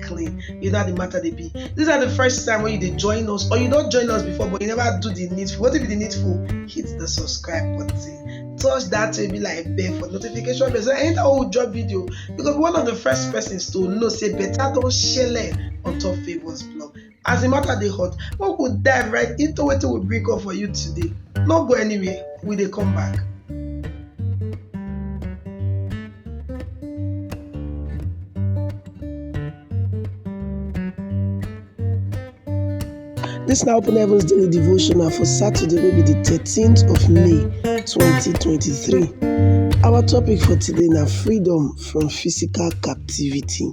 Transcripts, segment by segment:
clean you know how the matter dey be this na the first time wey you dey join us or you don join us before but you never do the needful wetin be the needful hit the subscribe button touch that way be like bell for notification bell so anytime wey we drop video you go be one of the first persons to know say better don shele on top favours blog As the matter dey hot, make we dive right into wetin we bring come for you today. No go anywhere, we dey come back. This na Open Heavens Daily Devotional for Saturday, wey be the 13th of May 2023. Our topic for today na freedom from physical captivity.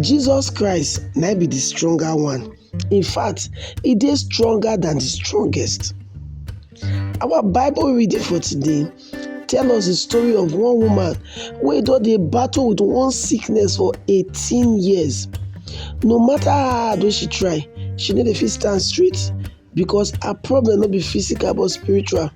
Jesus Christ na im be the stronger one. In fact, e dey stronger than the strongest. Our Bible reading for today tell us the story of one woman wey don dey battle with one sickness for 18 years. No matter how hard wey she try, she no dey fit stand straight because her problem no be physical but spiritual.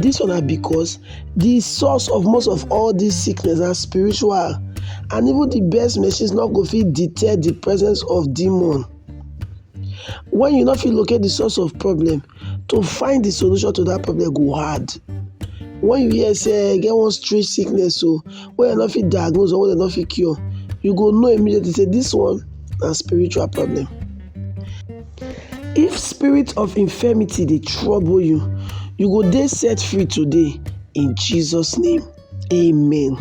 Dis one na because the source of most of all these sickness na spiritual and even the best machines no go fit detect the presence of demon. When you no fit locate the source of problem, to find the solution to that problem go hard. When you hear say e get one strange sickness o wey dem no fit diagnose or wey dem no fit cure, you go know immediately say this one na spiritual problem. If spirit of infirmity dey trouble you, you go dey set free today in Jesus name. Amen.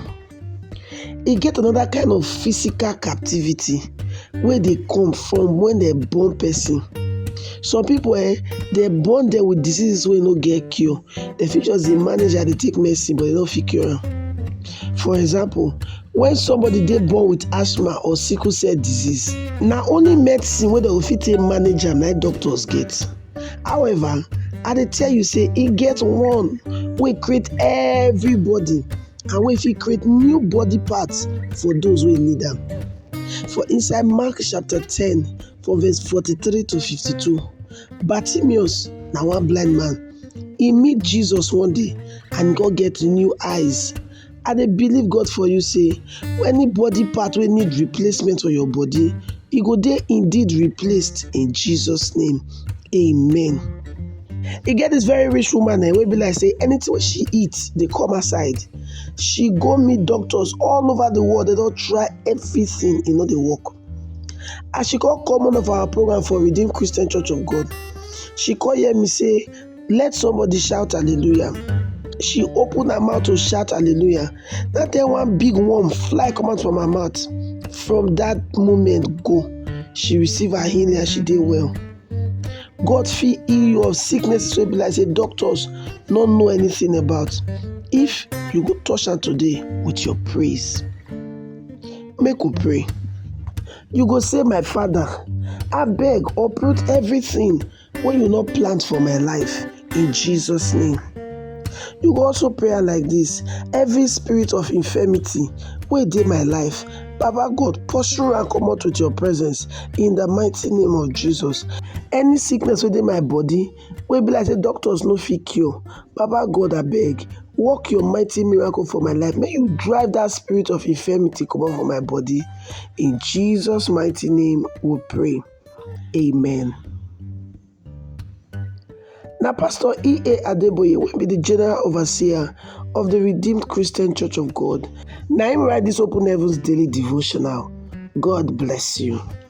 E get another kind of physical captivity wey dey come from when dem born person. Some people eh, dem born dem with diseases wey no get cure. Dem fit just dey manage am, dey take medicine but dem no fit cure am. For example, when somebody dey born with asthma or sickle cell disease, na only medicine wey dem go fit take manage am na im doctors get. However, I dey tell you say e get one wey create everybody and wey fit create new body parts for those wey need am. For inside Mark chapter ten For verse 43 to 52, Bartimaeus na one blind man. He meet Jesus one day and God get new eyes. I dey believe God for you say any body part wey need replacement for your body, e go dey indeed replaced in Jesus name. Amen. E get this very rich woman eh, wey be like say anything wey she eat dey come her side. She go meet doctors all over the world, they don try everything, e no dey work. As she come come one of our program for Redeemed Christian Church of God, she come hear me say, let somebody shout hallelujah. She open her mouth to shout hallelujah. That time one big worm fly come out from her mouth. From that moment go, she receive her healing and she did well. God feel heal you of sickness so be like say doctors not know anything about. If you go touch her today with your praise. Make we pray. You go say, My Father, I beg, uproot everything when you not plant for my life in Jesus' name. You go also pray like this every spirit of infirmity wey dey my life Baba God, pursue and come out with your presence in the mighty name of Jesus. Any sickness within my body, Wey be like say doctors no fit cure, Baba God abeg work your mighty miracle for my life, make you drive that spirit of infirmity comot for my body, in Jesus mighty name we pray, amen. Na Pastor E.A. Adeboye wey be the General Overseer of the Redeemed Christian Church of God na him write this Open Heavens Daily Devotional. God bless you.